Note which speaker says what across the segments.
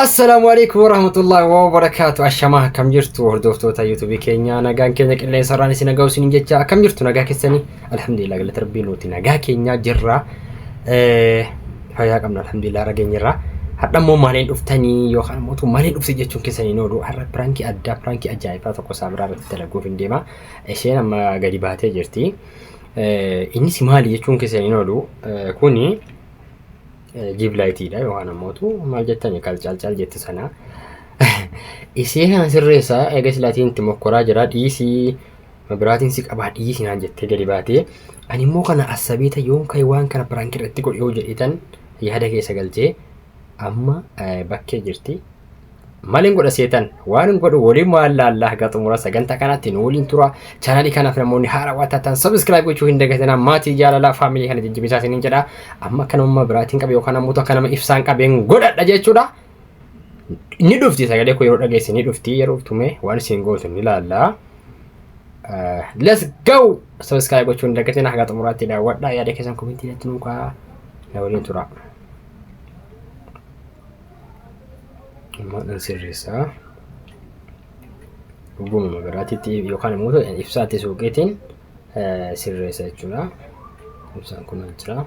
Speaker 1: Assalaamu alaikum warahmatullahi wabarakatuh Ashamaa akkam jirtu hordoftoota yuutuubii keenya nagaan keenya qilleensa irraan isin nagaa isin jecha akkam jirtu nagaa keessanii alhamdulillah galata rabbii nuti nagaa keenya jirra Eh, fayyaa qabna alhamdulillah rageenya irraa hadha immoo maaliin dhuftanii yookaan immoo utuu maaliin dhufte jechuun keessanii nooduu har'a piraankii addaa piraankii ajaa'ibaa tokko isaa biraa irratti dalaguuf hin deema isheen amma gadi baatee jirti Eh, innis maali jechuun keessanii nooduu Eh, kuni Jiib laayitiidha yookaan ammootu maal jettani kal calcal jetti sana. Isii kana sirreessa eega silaatiin itti mokkoraa jira dhiisii mabiraatiin si qabaa dhiisii naan jettee gadi baatee. Ani immoo kana assabeeta yoon ka'e waan kana piraanki irratti godhe yoo jedheetan yaada keessa galchee amma bakkee jirti. Malin godha seetan waan hin godhu waliin maal laallaa haga xumura sagantaa kanatti nu waliin tura chaanalii kanaaf namoonni haara waan taatan sabiskiraayib gochuu hin dagatinaa maatii jaalalaa faamilii kana jajjabeessaa isiniin jedha amma akka nama biraatiin qabe yookaan ammoo akka nama ibsaan qabeen godhadha jechuudha. Ni dhufti sagalee koo yeroo dhageesse ni dhufti yeroo dhuftume waan isin gootu ni laallaa. Let's go! Sabiskiraayib gochuu hin dagatinaa haga xumuraatti daawwadha yaada keessan komentii irratti nuukaa na waliin tura. Ammaadhaan sirreessaa. Dhuguma magaraatitti yookaan immoo ibsaatti suuqiitiin sirreessa jechuudha. Ibsaan kun jira.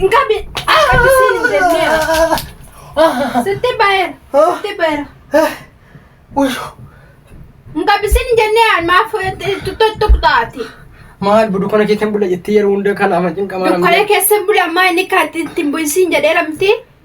Speaker 2: Hin qabne. Akkasiin hin jennee. Sitti baay'eera. Sitti baay'eera. Hin qabisiin hin jennee maaf tuqxaati. Maal buduu kana
Speaker 1: keessan bula jettee yeroo hunda kana ama cinqamaa Dukkana keessa bula ammaa
Speaker 2: inni kan ittiin bu'isiin jedhee lamti.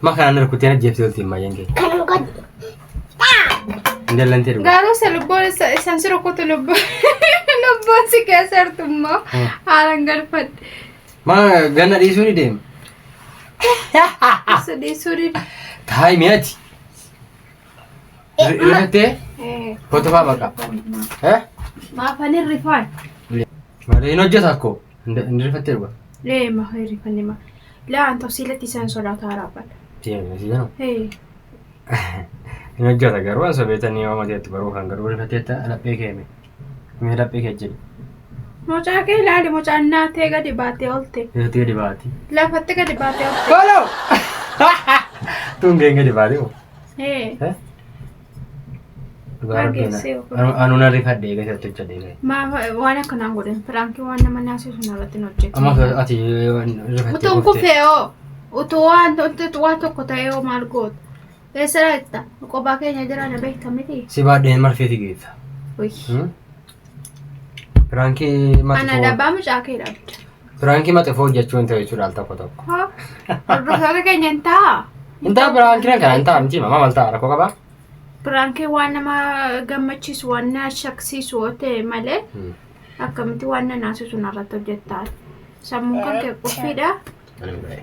Speaker 1: Ma kana na rukuttee na jeeftee oltiin maayyeen kee. Kanan godhe. Hin dallantee dhugaa. Garuu isa lubbuun isa-
Speaker 2: isan si rukutu lubbuun lubbuun si keessa jirtu immoo
Speaker 1: Hmm.
Speaker 2: haalan
Speaker 1: galfadhe. Ma
Speaker 2: ganna
Speaker 1: dhiisuu ni deema. Isa
Speaker 2: dhiisuu dide. Taa'ii mi'aati.
Speaker 1: Rifattee Eh, hotofaa baqa. Eh?
Speaker 2: Maafan hin rifaan. Malee
Speaker 1: hin hojjeta akkoo. Hin rifattee dhugaa. Ee ma heri fanne
Speaker 2: ma. Laa an tafsiilatti isaan sodaataa raabban. Deemee si jedhama.
Speaker 1: Ee Hin hojjeta garuu an sobeetanii yoo mateetti baruu kan garuu rifatteetta laphee kee mee. Mee laphee kee jedhi. mucaa
Speaker 2: kee ilaali mucaan naatee gadi baatee olte. Irratti gadi baati.
Speaker 1: Lafatti gadi baatee
Speaker 2: olte. Kooloo!
Speaker 1: Tuun gadi baati moo. Ee. Eh? Dhugaa Waan rabbii na- geessee ofitti. anu- anu na rifadhe eegas irratti hojjedhe eegas. Maaf waan akkanaa hin
Speaker 2: godhin piraankii waan nama naasisu narratti hin hojjetu. Amma osoo ati
Speaker 1: rifattee Utuun kuftee. kufee hoo
Speaker 2: utuu waan utuu waan tokko ta'ee hoo maal gootu? Eessa laata? Qophaa keenya jira na beekta miti. Si baadheen marfeeti
Speaker 1: geessa. Uy. Hmm? Piraankii mati Ana koo- dhabbaa
Speaker 2: mucaa kee dhabda. Piraankii maxifoo
Speaker 1: hojjechuu hin ta'u jechuudha al tokko tokko. Hoo, Hordoftoota
Speaker 2: keenya hin ta'a. Intaa piraankii
Speaker 1: kan kana intaa miti mamaa maal ta'a rakkoo qabaa? Piraankii waan
Speaker 2: nama gammachiisu waan na shaksiisu yoo ta'e malee akkamitti waan na naasisu narratti hojjettaan. Sammuun kan kee qophiidha. Ani hin bahe.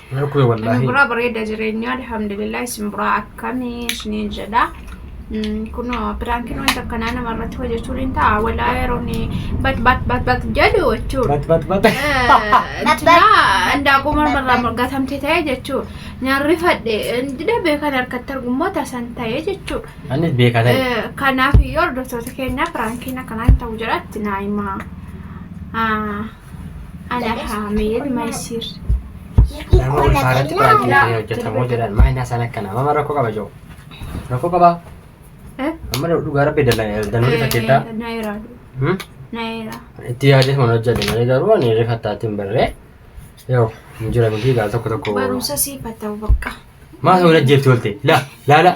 Speaker 2: Narkube wallahi.
Speaker 1: Buraa bareeda jireenyaa
Speaker 2: alhamdulillah isin buraa akkami isiniin jedha. Kun piraankiin wanta akkanaa nama irratti hojjechuun hin ta'a. Walaa yeroon bat bat bat bat jedhu jechuudha. Bat bat bat. Tinaa indaaquu mormarraa gatamte ta'e jechuudha. Nyaarri fadhe dida beekan harkatti argummoo tasan ta'e jechuudha. Annis beekaa ta'e.
Speaker 1: Eh, Kanaaf iyyuu hordoftoota
Speaker 2: keenyaaf piraankiin akkanaa hin ta'u jedha tinaa himaa. Ah, Alaa Haameed Maysiir.
Speaker 1: Nama ulfaa irratti piraankiin kun hin hojjetamu jedhan maa inni haasaan akkana amma rakkoo qaba jiru rakkoo qaba amma dhugaa rabbi danuu rifateetta Naayira. Naayira.
Speaker 2: itti yaadee
Speaker 1: mana hojjete malee garuu ani rifattaatti hin barree yoo hin jira miti gaal tokko tokko Barumsa siif haa ta'u
Speaker 2: bakka. maa ta'uu hin ajjeefti
Speaker 1: oolte laa laa laa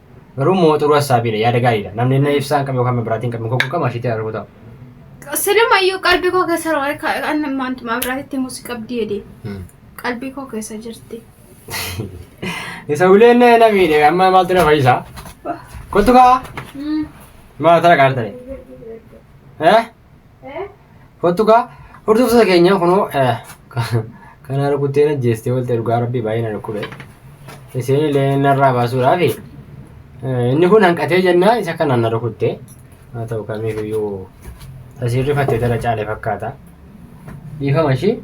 Speaker 1: Garuu immoo xuruu hassaabiidha yaada gaariidha. Namni inni ibsaan qabu yookaan biraatiin qabu koo qabu ashiitti arguu ta'u. Sinima
Speaker 2: iyyuu qalbii koo keessa waan kan maantumaa biraatitti muusi qabdi jedhe qalbii koo keessa jirti.
Speaker 1: Isa uleen na miidhe amma maaltu na fayyisa? Kottu kaa maal tana qaartani? Eh? Kottu kaa hordoftoota keenya kunoo kanaa rukuttee na jeestee walta dhugaa rabbii baay'ee na dhukkube. Isin illee narraa baasuudhaaf inni kun hanqatee jennaa isa kanaan na rukutte. Haa ta'u kamiifiyyuu tasiirri fattee tara caale fakkaata. Dhiifama ishii.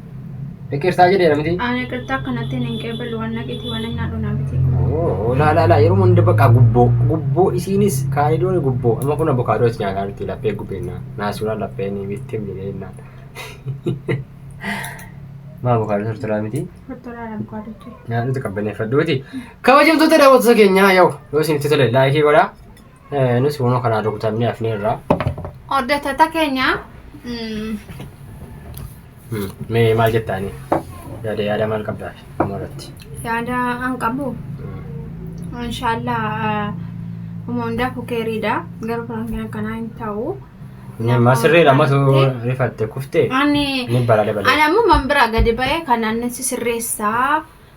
Speaker 1: Iqirtaa jedhee namti. Ani iqirtaa kanatti
Speaker 2: hin qeebalu waan naqiti waan hin nyaadhu namti. Laa laa laa
Speaker 1: yeroo hunda bakka gubboo gubboo isiinis kaalidoon gubboo amma kun abokaadoo itti nyaataa jirti laphee gubbeenna naasuraa laphee ni bittee jedheenna. Maa abokaadoo tortoraa miti. Tortoraa abukaadotti.
Speaker 2: Nyaadhuuti qabbaneeffadhuuti.
Speaker 1: Kabajamtoota daawwattoota keenyaa yoo yoo isinitti tole laayikii godhaa. Nus kunoo kanaan rukutamnee hafneerra. Hordoftoota
Speaker 2: keenya mm,
Speaker 1: Hmm, Mee maal jettaani? Yaada yaada maal qabdaa dhuma irratti? yaada an
Speaker 2: qabu Hmm. inshaallah huma hundaa kukeeriidha garuu piraankii akkanaa hin ta'u. Inni ammaa sirriidha
Speaker 1: ammatu rifatte kuftee Ani ni bara dabalee. ani ammoo man biraa gadi
Speaker 2: ba'ee kan annis sirreessaa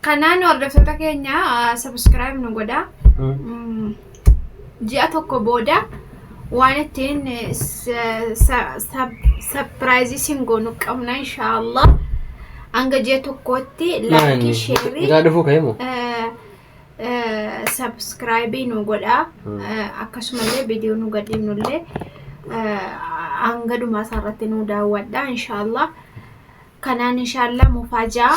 Speaker 1: Kanaan hordoftoota
Speaker 2: keenya sabiskiraayib nu godha. Mm, Ji'a tokko booda waan ittiin sapiraayizii sin goonu qabna inshaallah. Hanga ji'a tokkootti laayikii sheerii Irraa dhufuu ka'e moo? sabiskiraayibii nu godha. Mm. Eh, Akkasumallee viidiyoo nu gadhiifnullee eh, hanga dhumaa isaarratti nu daawwadha inshaallah. kanaan inshaallaa mufaajaa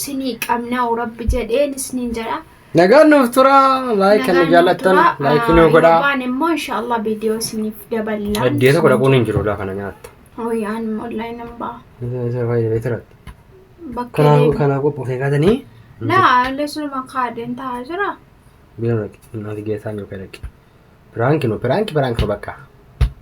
Speaker 2: sinii qabnaa rabbi jedheen isniin jedha. Nagaan nuuf tura
Speaker 1: laayik kan nu jaallattan laayik nu godhaa. Waan immoo inshaallaa
Speaker 2: viidiyoo isiniif daballaan. Addee tokko dhaquun hin jiru
Speaker 1: lafa na nyaatta. Hooyi aan immoo
Speaker 2: laayik nan ba'a. Isa fayyadee beekira.
Speaker 1: Bakka
Speaker 2: deemu. Kanaa qophoofee
Speaker 1: kaatanii. Laa
Speaker 2: lesuma kaadeen taa'aa jira.
Speaker 1: Biiroo dhaqi. Naati
Speaker 2: geessaa
Speaker 1: yoo kee dhaqi. Piraanki
Speaker 2: nu
Speaker 1: piraanki piraanki bakka.